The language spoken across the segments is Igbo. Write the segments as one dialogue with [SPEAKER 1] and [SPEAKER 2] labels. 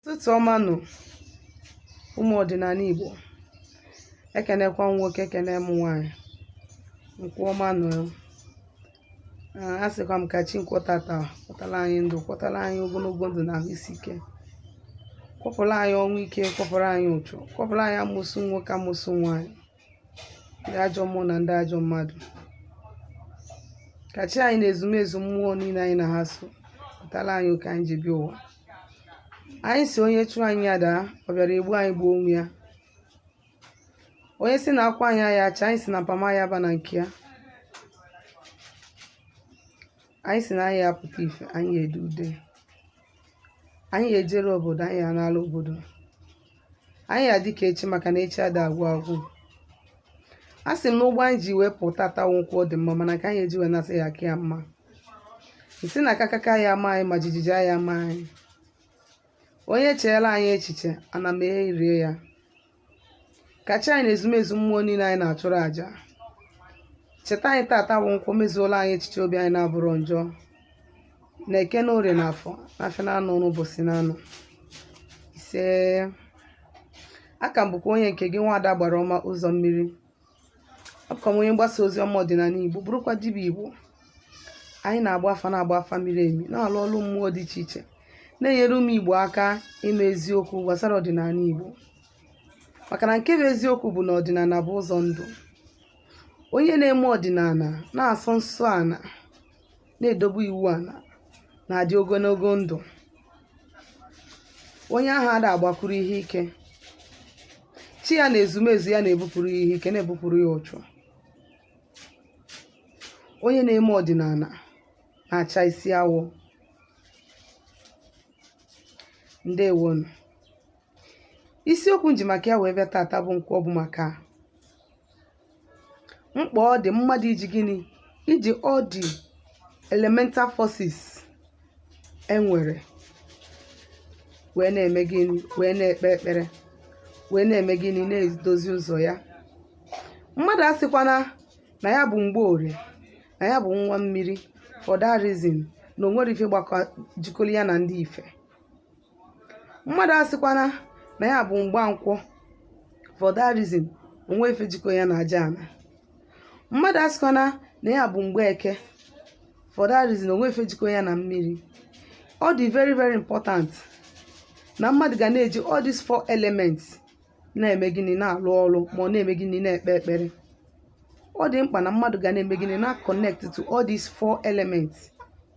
[SPEAKER 1] ụtụtụ ọma nụ ụmụ ọdịnana Igbo ekenekwa m nwoke ekene m nwaanyị nkwọ ọma nụ a sịkwa m ka chi nkwọtata kwọtara anyị ndụ kwọtara anyị ogonogo ndụ na ahụ isi ike kwọpụrụ anyị ọnwụ ike kwọpụrụ anyị uchu kwọpụrụ anyị amosu nwoke amosu nwaanyị ndị ajọ mmụọ na ndị ajọ mmadụ ka chi anyị na ezumezu mmụọ niile anyị na ha so kwọtara anyị oke anyị ji bịa ụwa anyị sị onye chụọ anyị ya daa ọ bịara egbu anyị gbuo onwe ya onye sị na akwụ anyị aya acha anyị sị na mpama ya ba na nke ya anyị sị na anyị ya apụta ife anyị ya ede ude anyị ya ejere obodo anyị ya anala obodo anyị ya adị ka echi maka na echi ada agwụ agwụ a sị m na ụgbọ anyị ji wee pụta taa bụ nkwọ ọ dị mma mana nke anyị eji wee nasị ya aka ya mma m sị na kakaka ya ama anyị ma jijiji aya ama anyị onye cheela anyị echiche ana merie ya ka chi anyị na ezumezu mmụọ niile anyị na-achụrụ àjà cheta anyị tata bụ nkwọ mezuola anyị echiche obi anyị na-abụrọ njọ na eke na orie na afọ na afịa na anọ na ụbọsị na anọ ise aka m bụkwa onye nke gị nwaada agbara ọma ụzọ mmiri abụkwa m onye mgbasa ozi ọma ọdịnana igbo bụrụkwa dibịa igbo anyị na-agba afa na-agba afa miri emi na-alụ ọrụ mmụọ dị iche iche na-enyere ụmụ igbo aka ịma eziokwu gbasara ọdịnana igbo maka na nke bụ eziokwu bụ na ọdịnana bụ ụzọ ndụ Onye na-eme ọdịnana na-asọ nsọ ana, na-edobe iwu ana, na-adị ogonogo ndụ. Onye ahụ ada agbakwuru ihe ike. Chi ya na ezumezu ya na-ebupụrụ ya ihe ike, na-ebupụrụ ya uchu. Onye na-eme ọdịnana na-acha isi awọ. Ndewonu. isiokwu m ji maka ya wee bịa tata bụ nkwọ ọ bụ maka mkpa ọ dị mmadụ iji gịnị iji all the elemental forces e nwere wee na-eme gịnị wee na-ekpe ekpere wee na-eme gịnị na-edozi ụzọ ya mmadụ asịkwana na ya bụ mgborie na ya bụ nwa mmiri for that reason na o nwere ife gbakọ jikọrọ ya na ndị ife mmadụ asịkwana na ya bụ mgbankwọ for that reason o nwe ife jikọ ya na aja ana mmadụ asịkwana na ya bụ mgbeke for that reason o nwe ife jikọ ya na mmiri ọ dị very very important na mmadụ ga na-eji all these four elements na-eme gịnị na-alụ ọrụ ma na-eme gịnị na-ekpe ekpere ọ dị mkpa na mmadụ ga na-eme gịnị na-connect to all these four elements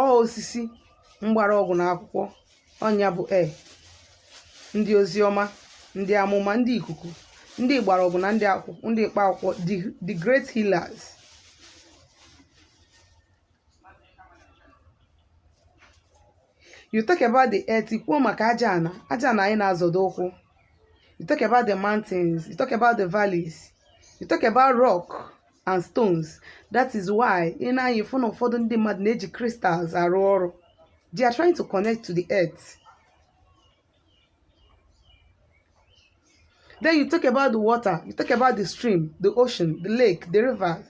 [SPEAKER 1] ọ osisi mgbarọgwụ na akwụkwọ ọ nya bụ air ndị ozi ọma ndị amụma ndị ikuku ndị mgbarọgwụ na ndị akwụkwọ ndị mkpa akwụkwọ the- the great healers you talk about the earth i kwuo maka aja ana aja ana anyị na-azọdo ụkwụ you talk about the mountains you talk about the valleys you talk about rock and stones that is why ị na-anya ịfụ na ụfọdụ ndị mmadụ na-eji crystals arụ ọrụ they are trying to connect to the earth then you talk about the water you talk about the stream the ocean the lake the river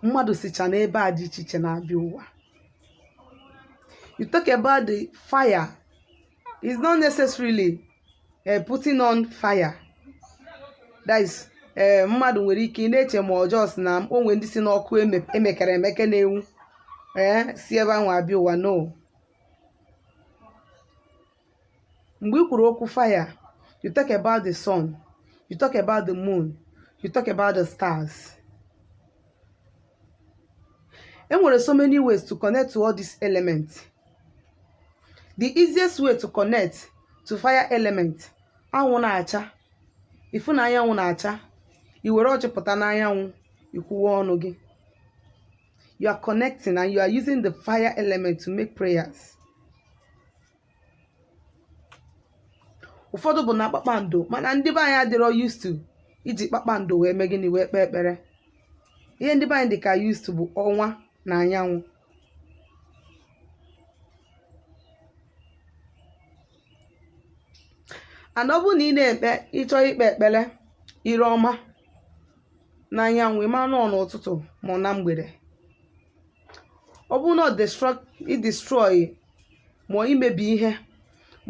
[SPEAKER 1] mmadụ sicha n'ebe a dị iche iche na-abịa ụwa you talk about the fire it's not necessarily uh, putting on fire that is ee mmadụ nwere ike ị na-eche ma ọjọọ sị na o nwe ndị si n'ọkụ eme- emekere emeke na-enwu ee si ebe ahụ abịa ụwa no mgbe i kwuru okwu fire you talk about the sun you talk about the moon you talk about the stars e nwere so many ways to connect to all these elements the easiest way to connect to fire element anwụ na-acha ị fụ na anyanwụ na-acha i were ọjị pụta n'anyanwụ i kwuwe ọnụ gị you are connecting and you are using the fire element to make prayers ụfọdụ bụ na kpakpando mana ndị be anyị adịrọ used to iji kpakpando wee mee gịnị wee kpee ekpere ihe ndị be anyị dị ka used to bụ ọnwa na anyanwụ and ọ bụrụ na ị na-ekpe ị chọọ ikpe ekpere ire ọma na anyanwụ ị ma na ọ n'ụtụtụ ma ọ na mgbede ọ bụrụ na ị destroy ma imebi ihe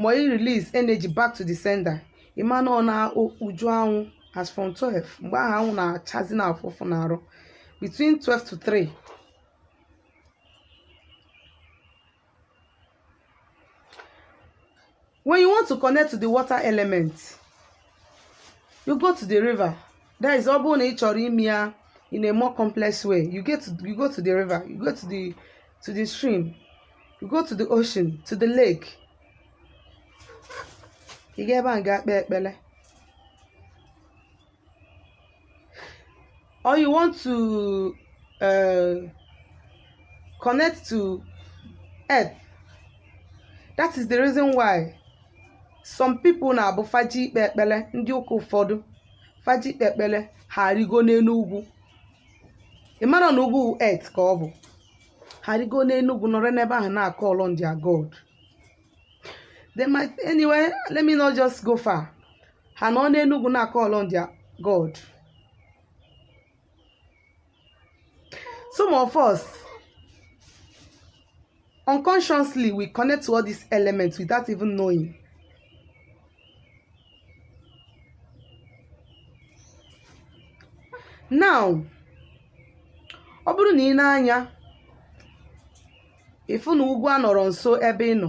[SPEAKER 1] ma ị release energy back to the sender ị ma na ọ na uju anwụ as from 12 mgbe ahụ anwụ na-achazi na-afụ ụfụ na arụ between 12 to 3 ị When you want to connect to the water element, you go to the river. That is ọ bụrụ na ị chọrọ ime ya in a more complex way. You get to, you go to the river, you go to the to the stream, you go to the ocean, to the lake. Ị gaa ebe ahụ gaa kpee ekpere. or you want to uh, connect to earth that is the reason why some people na-abụ fa je ikpe ekpele ndị ụka ụfọdụ fa je ikpe ekpele ha arịgo n'enu ugwu ị mara na ugwu earth ka ọ bụ ha arịgo n'enu ugwu nọrọ n'ebe ahụ na-call on their god they might anyway let me not just go far ha nọ n'enu ugwu na-call on their god some of us unconsciously we connect to all these elements without even knowing now ọ bụrụ na ị nee anya ị fụ na ugwu anọrọ nso ebe ị nọ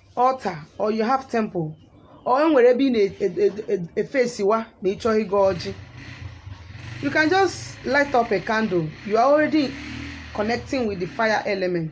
[SPEAKER 1] altar or you have temple or e nwere ebe ị na-eface wa e, e, ma ị chọọ ịgọ ọjị you can just light up a candle you are already connecting with the fire element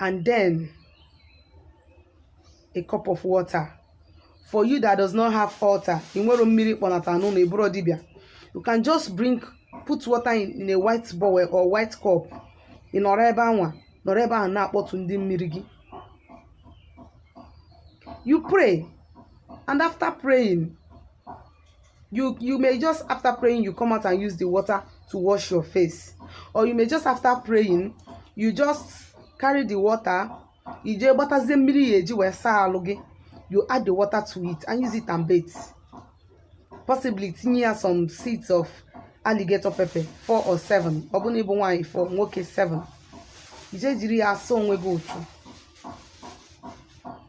[SPEAKER 1] and then a cup of water for you that does not have altar ị nwere mmiri kpọnata n'ụnọ ị bụrọ dibịa you can just bring put water in, in a white bowl or white cup ị nọrọ ebe anwa nọrọ ebe ahụ na-akpọtụ ndị mmiri gị you pray and after praying you you may just after praying you come out and use the water to wash your face or you may just after praying you just carry the water i jee gbatazie mmiri ị ya-eji wee saa alụ gị you add the water to it and use it and bathe possibly tinye ya some seeds of alligator pepper four or seven ọ bụrụ na ị bụ nwaanyị four nwoke seven i jee jiri ya asa onwe gị ụchụ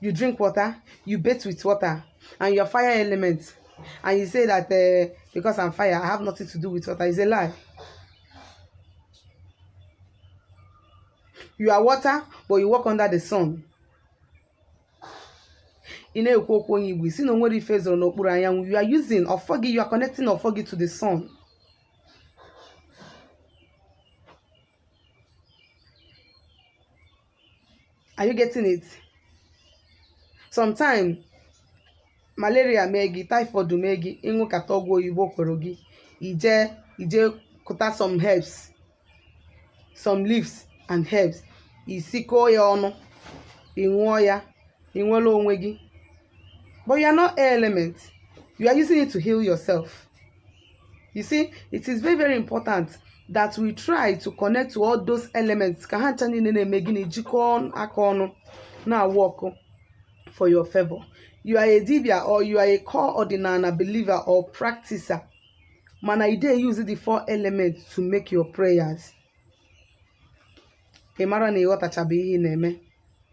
[SPEAKER 1] you drink water you bathe with water and you're fire element and you say that uh, because i'm fire i have nothing to do with water is a lie you are water but you walk under the sun ị na-ekwu okwu onye igbo ị sị na o nwerọ ife zoro n'okpuru anyanwụ you are using ọfọ gị you are connecting ọfọ gị to the sun are you getting it sometimes malaria mee gị typhoid mee gị ị ṅụkata ọgwụ oyibo o kwerọ gị i je i jee kụta some herbs some leaves and herbs i sikọọ ya ọnụ ị ṅụọ ya i nwere onwe gị but you are not air element you are using it to heal yourself you see it is very very important that we try to connect to all those elements ka ha ncha niile na-eme gịnị jikọọ aka ọnụ na-awork for your favor you are a dibia or you are a core ọdịnala believer or practicer mana you dey use the four elements to make your prayers ị mara na ị ghọtachabeghị ihe ị na-eme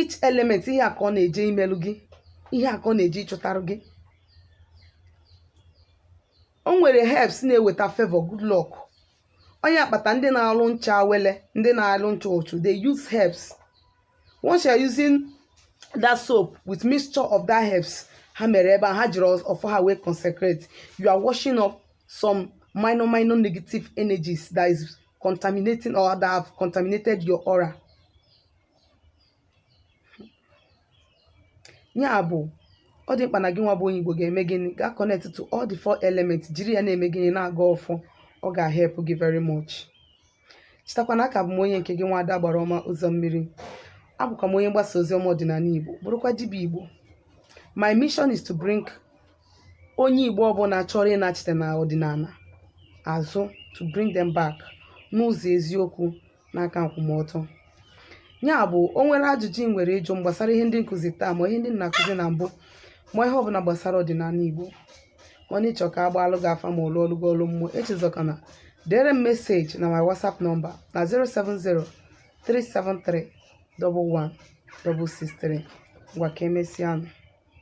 [SPEAKER 1] each element ihe a ka ọ na-eje imelu gị ihe a ka ọ na-eje ịchọtarụ gị o nwere herbs na-eweta favor good luck ọ nya kpata ndị na-alụ ncha awele ndị na-alụ ncha uchu they use herbs once you are using that soap with mixture of that herbs ha mere ebe ha jiri ọfọ ha wee consecrate you are washing off some minor minor negative energies that is contaminating or that have contaminated your aura ya bụ̀ ọ dị̀ mkpà nà gị nwa bụ̀ onye Ìgbò gà-ème gịnị gà connect to all the four elements jiri ya na-ème gịnị na-agọ ọfọ ọ gà-help gị very much chetakwa na aka bụ m onye nke gị nwa ada Agbara Ọma ụzọ mmiri abụkwa m onye mgbasa ozi ọma ọdịnala Igbo bụrụkwa dibịa Igbo my mission is to bring onye Igbo ọbụla chọrọ ịnachite na ọdịnala azụ to bring them back n'ụzọ eziokwu na aka nkwụmọtọ ya bụ o nwere ajụjụ ị nwere ịjụ m gbasara ihe ndị m kụzi taa ma ihe ndị m na-akụzi na mbụ ma ihe ọbụla gbasara ọdịnala Igbo ma ọ na ị chọ ka a gbaalụ gị afa ma ọ lụọlụ gị ọlụ mmụọ echezọkana dere m meseji na my WhatsApp nọmba na 070 373 11 163 ngwa ka emesịa nụ